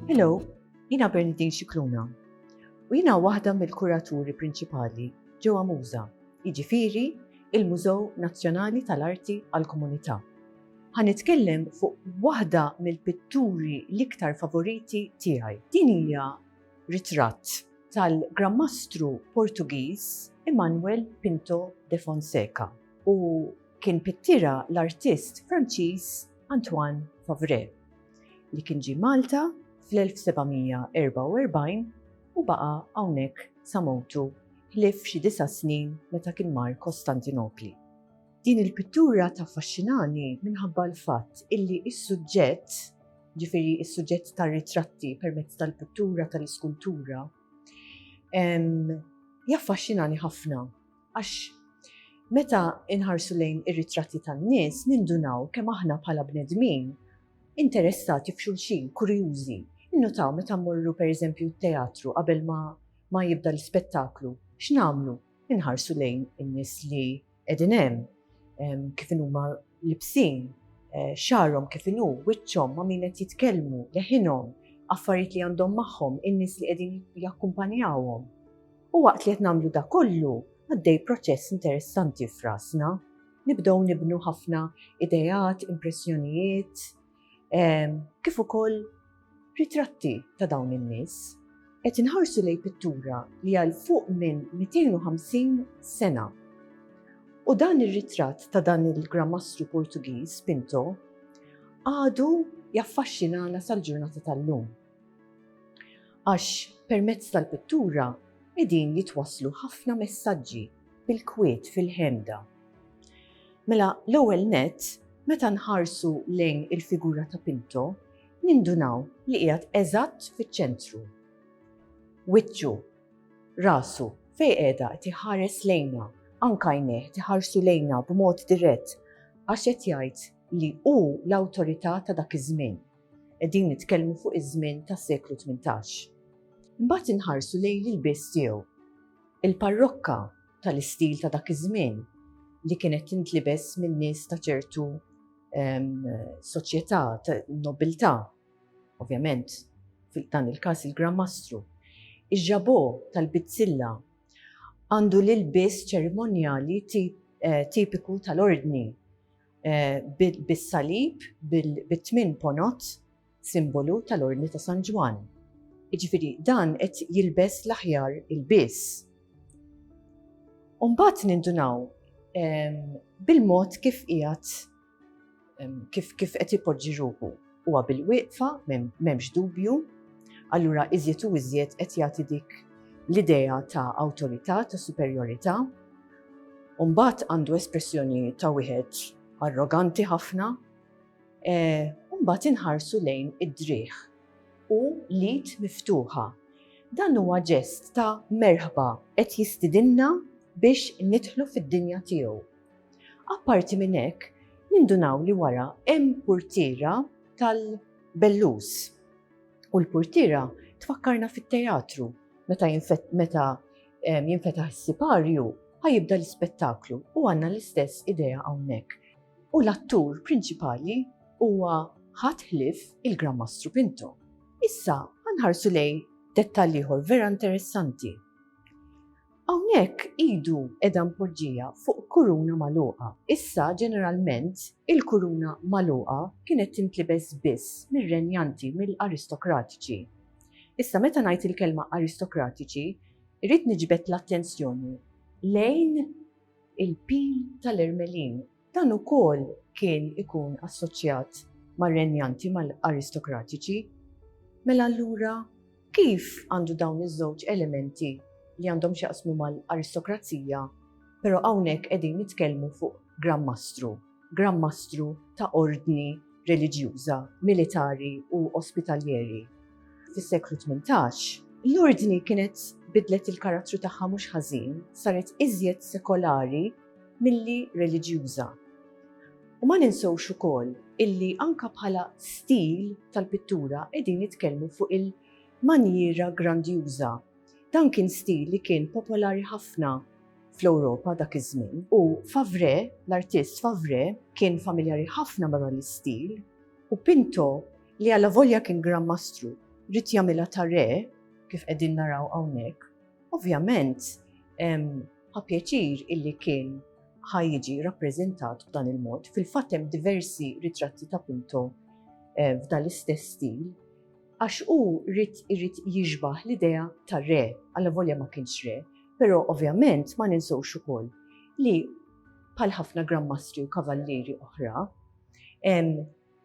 Hello, jina Bernadine Xikluna u jina waħda mill-kuraturi prinċipali ġewwa Muża, jiġifieri il-Mużew Nazzjonali tal-Arti għall-Komunità. Ħa nitkellem fuq waħda mill-pitturi l-iktar favoriti tiegħi. Din hija ritratt tal-Gran Mastru Portugiż Immanuel Pinto de Fonseca u kien pittira l-artist Franċiż Antoine Favré li kien ġie Malta fl-1744 u baqa' hawnhekk sa mewtu ħlief xi disa' snin meta kien mar Kostantinopli. Din il-pittura taffaxxinani minħabba l-fatt illi s-suġġett, ġifieri s-suġġett tar-ritratti permezz tal-pittura tal-iskultura, jaffaxxinani ħafna għax meta nħarsu lejn ir-ritratti tan-nies nindunaw kemm aħna bħala bnedmin interessati f'xulxin, kurjużi. Innutaw meta mmorru pereżempju t-teatru qabel ma jibda l-ispettaklu, x'nagħmlu? Inħarsu lejn in-nies li qegħdin hemm, kif inhuma libsin, eh, xagħarhom kif inhu, wiċċhom ma' min qed jitkellmu, leħinhom, affarijiet li għandhom magħhom, in-nies li qegħdin jakkumpanjawhom. U waqt li qed nagħmlu da kollu, għaddej proċess interessanti f'rasna. Nibdew nibnu ħafna idejat, impressjonijiet, ehm, kif ukoll ritratti ta' dawn in-nies. Qed inħarsu lej pittura li għal fuq minn 250 sena. U dan ir-ritratt ta' dan il-gramastru Portugiż Pinto għadu jaffaxxinana sal-ġurnata tal-lum. Għax permezz tal-pittura qegħdin jitwasslu ħafna messaġġi bil-kwiet fil-ħemda. Mela l-ewwel nett, meta nħarsu lejn il-figura ta' Pinto, nindunaw li qiegħed eżatt fiċ-ċentru. Wiċċu, rasu, fejn qiegħda qed iħares lejna, anke għajnejh qed iħarsu lejna b'mod dirett għax qed jgħid li hu l-awtorità ta' dak iż-żmien. Qegħdin nitkellmu fuq iż-żmien tas-seklu tmintax. Imbagħad inħarsu lejn l-ilbies tiegħu. Il-parrokka tal-istil ta' dak iż-żmien li kienet tintlibes min-nies ta' ċertu soċjetà, nobiltà, ovvjament, fil-dan il-każ il-Gran Mastru. Iġġabo tal-bizzilla għandu l-ilbies ċerimonjali eh, tipiku tal-ordni bis-salib, bit-tmien ponot, simbolu tal-Ordni ta' San Ġwann. Jiġifieri dan qed jilbes l-aħjar ilbies. U mbagħad nindunaw bil-mod kif qiegħed kif qed ipoġġi ruħu. huwa bil-wieqfa, m'hemmx dubju, allura iżjed u iżjed qed jagħti dik l-idea ta' awtorità, ta' superjorità. Umbat għandu espressjoni ta' wieħed arroganti ħafna, eh, umbat inħarsu lejn id-driħ u lid miftuħa. Dan huwa ġest ta' merħba qed jistidinna biex nidħlu fid-dinja tiegħu. Apparti minn hekk, nindunaw li wara hemm purtiera tal-bellus. U l-purtiera tfakkarna fit-teatru meta meta jinfetaħ is-siparju ħajibda l-ispettaklu u għandna l-istess idea hawnhekk. U l-attur prinċipali huwa ħadd ħlief il-Gran Mastru Pinto. Issa ħanħarsu lejn dettall ieħor vera interessanti. Hawnhekk idu qiegħda mpoġġija fuq kuruna magħluqa. Issa ġeneralment il-kuruna magħluqa kienet tintlibes biss mir-renjanti, mill-aristokratiċi. Issa meta ngħid il-kelma aristokratiċi, irrid niġbed l-attenzjoni lejn il-pil tal-ermelin. Dan ukoll kien ikun assoċjat mar-renjanti mal-aristokratiċi. Mela allura kif għandu dawn iż-żewġ elementi li għandhom x'jaqsmu mal-aristokrazija, però hawnhekk qegħdin nitkellmu fuq Gran Mastru, Gran Mastru ta' ordni reliġjuża, militari u ospitaljeri fis-seklu tmintax, l-ordni kienet bidlet il-karattru tagħha mhux ħażin, saret iżjed sekolari, milli reliġjuża. U ma ninsewx ukoll illi anke bħala stil tal-pittura qegħdin nitkellmu fuq il-manjiera grandjuża. Dan kien stil li kien popolari ħafna fl-Ewropa dak iż-żmien u Favre, l-artist Favre, kien familjari ħafna ma' dan l-istil u Pinto li allavolja kien Gran Mastru ried jagħmilha ta' re, kif qegħdin naraw hawnhekk, ovvjament Ħa pjaċir illi kien ħa jiġi rappreżentat b'dan il-mod. Fil-fatt hemm diversi ritratti ta' Pinto eh, f'dan l-istess stil għax u rrit irrit jiġbaħ l-idea ta' re, għalla volja ma kienx re, pero ovvjament ma ninsawx ukoll li pal ħafna grammastri u kavallieri oħra,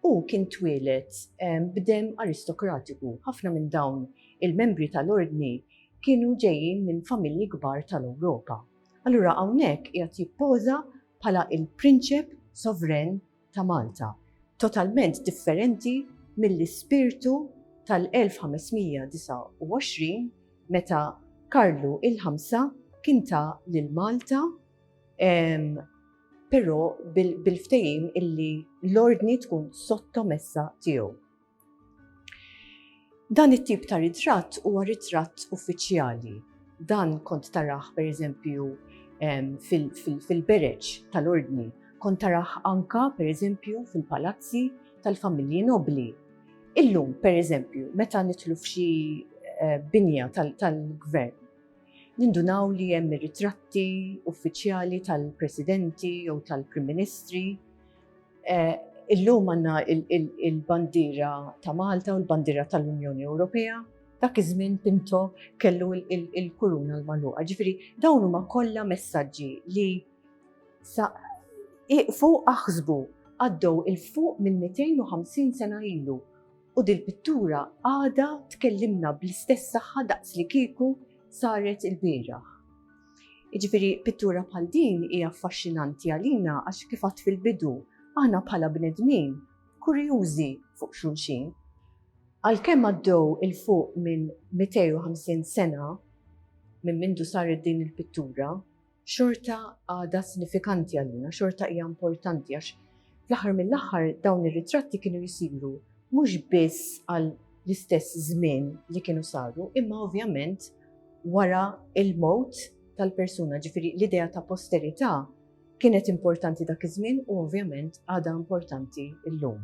Hu kien twieled b'demm aristokratiku, ħafna minn dawn il-membri tal-Ordni kienu ġejjin minn familji kbar tal-Ewropa. Allura hawnhekk qiegħed jippoża bħala l-Prinċep Sovren ta' Malta, totalment differenti mill-ispirtu tal-1529 meta Karlu il-Ħamsa kien ta lil Malta Però bil-ftehim illi l-ordni tkun sottomessa tiegħu. Dan it-tip ta' ritratt huwa ritratt uffiċjali. Dan kont taraħ pereżempju fil-bereġ tal-ordni, kont taraħ anka pereżempju fil-palazzi tal-familji nobbli. Illum pereżempju meta nidħlu f'xi binja tal-gvern, Nindunaw li hemm ir-ritratti uffiċjali tal-Presidenti jew tal-Prim Ministri. Eh, illum għandna il-bandiera ta' Malta u l-bandiera tal-Unjoni Ewropea. Dak iż-żmien Pinto kellu il-kuruna l-maluqa. Ġifieri dawn huma kollha messaġġi li sa iqfu aħsbu għaddew il-fuq minn 250 sena ilu U dil-pittura għadha tkellimna bl-istess saħħa daqslikieku saret ilbieraħ. Jiġifieri pittura bħal din hija affaxxinanti għalina għax kif għadt fil-bidu, aħna bħala bnedmin kurjużi fuq xulxin. Għalkemm għaddew 'il fuq minn 250 sena minn mindu saret din il-pittura, xorta għadha sinifikanti għalina, xorta hija importanti għax fl-aħħar mill-aħħar dawn ir-ritratti kienu jsiru mhux biss għal l-istess żmien li kienu saru, imma ovvjament wara il-mowt tal-persuna, ġifiri l-idea ta' posterità kienet importanti dak iż-żmien u ovvjament għadha importanti llum.